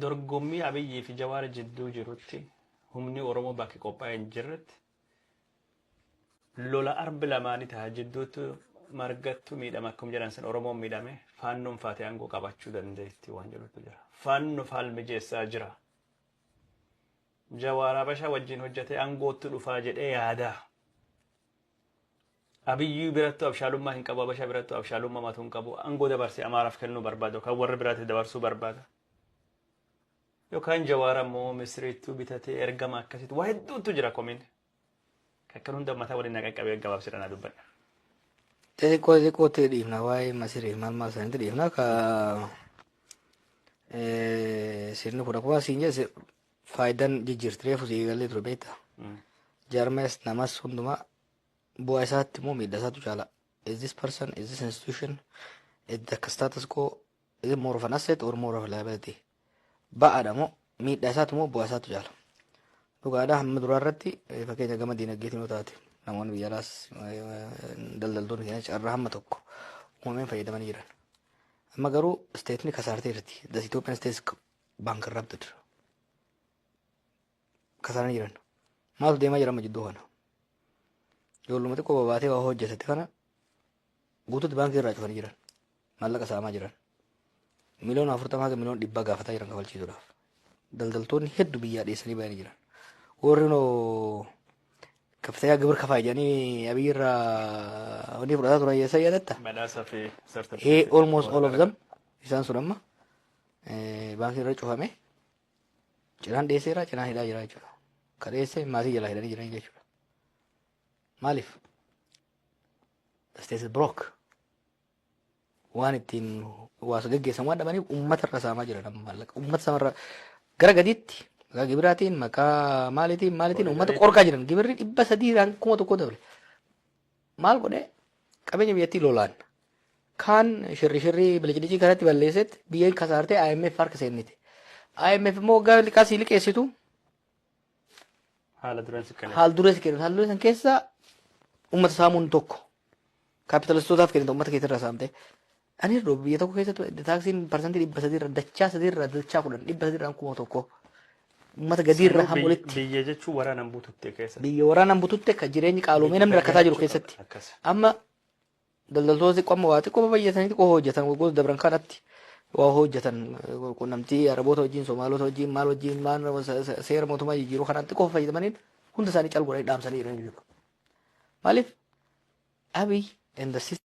Dorgommii Abiyyii fi Jawaar jidduu jirutti humni Oromoo bakki qophaa'ee hin jirretti lola arbi lamaanii taha jidduutti margattu miidhama akkuma jedhan san Oromoon miidhame faannoon faatee aangoo qabachuu dandeetti waan jedhutu jira. Faannoof haal mijeessaa jira. Jawaar Habashaa wajjin hojjetee aangootti dhufaa jedhee yaadaa. Abiyyuu birattu abshaalummaa hin qabu abasha birattu abshaalumma matu hin qabu angoo dabarse amaaraf kennuu barbaada yookaan warra biraatiif dabarsuu barbaada. Yookaan jawaar ammoo misiriittuu bitatee ergama akkasitti waa hedduutu jira komiin. Kakkan hunda mataa waliin na qaqqabee gabaabsee dhanaa dubbadha. Xixiqqoo xixiqqootti dhiifna waa'ee masiriif maal maal isaaniitti dhiifna ka sirni kun akkuma siin jedhe faayidaan jijjiirti reefu sii galee ture beekta. Jaarmees namas hundumaa Bu'aa isaatti moo miidhaa isaatu caalaa? Is this person, is this institution, is the status quo, is it more of an asset or more of a liability? Ba'aadha moo miidhaa isaatu moo bu'aa isaatu caala? Dhugaadha hamma duraa irratti eh, fakkeenya gama diinagdeetiin yoo taate namoonni biyya alaas eh, daldaltoonni keenya carraa hamma tokko uumameen fayyadamanii jiran. Amma garuu isteetni kasaartee jirti. The Ethiopian state is bankrupted. kasaranii jiran maaltu deemaa jira amma jidduu kana ijoolluma xiqqoo babaatee waa hojjetatti kana guututti baankii irraa cufanii jiran maallaqa saamaa jiran miliyoona afurtama haga miliyoona dhibbaa gaafataa jiran kafalchiisuudhaaf daldaltoonni heddu biyyaa dhiyeessanii bayanii jiran warri noo kaftayaa gibir kafaa jedhanii abiyyi irraa wanni fudhataa turan yeessa yaadatta Badhaasa fi Ee, certificate. almost all of them isaan sun amma eh, baankii irra cufame Cinaan dhiyeesseera, cinaan hidhaa jira jechuudha. Ka dhiyeesse maatii jalaa hidhanii jiranii jechuudha. Maaliif? Isteetis Birook waan ittiin waasa geggeessan waan dhabaniif uummata irra saamaa jira nama maallaqa. Uummata samarra gara gadiitti maqaa gibiraatiin maqaa maaliitiin maaliitiin uummata qorqaa jiran gibirri dhibba sadii irraan kuma tokko dabale. Maal godhe qabeenya biyyattii lolaan kaan shirri shirri bilicdicii kanatti balleessetti biyya kasaartee IMF harka seennite. IMF immoo waggaa liqaa sii liqeessitu Haala duraan si kenna. haal duree si kennitu. Haal duree san keessa uummata saamuun tokko kaapitalistotaaf kennita uummata keessa irraa saamtee. Ani irra biyya tokko keessatti taaksiin parsantii dhibba sadii irra dachaa sadii irra dachaa kudhan dhibba sadii irraan kuma tokko uummata gadii irra Sanuu hamu biyya- walitti Biyya jechuun waraanaan bututte keessatti. biyya waraanaan bututte akka jireenyi qaaloomee namni rakkataa jiru keessatti Akkas. amma daldaltoota xiqqoo amma waa xiqqoo baay'atanii xiqqoo hojjetan waggoota dabran kanatti waa hojjetan eh, quunnamtii araboota wajjin somaalota wajjin maal wajjin maal se- se- seera mootummaa jijjiiruu kanaan xiqqoo fayyadamaniin hunda isaanii calguranii dhaamsanii jiran jechuudha. Maaliif abiy and the system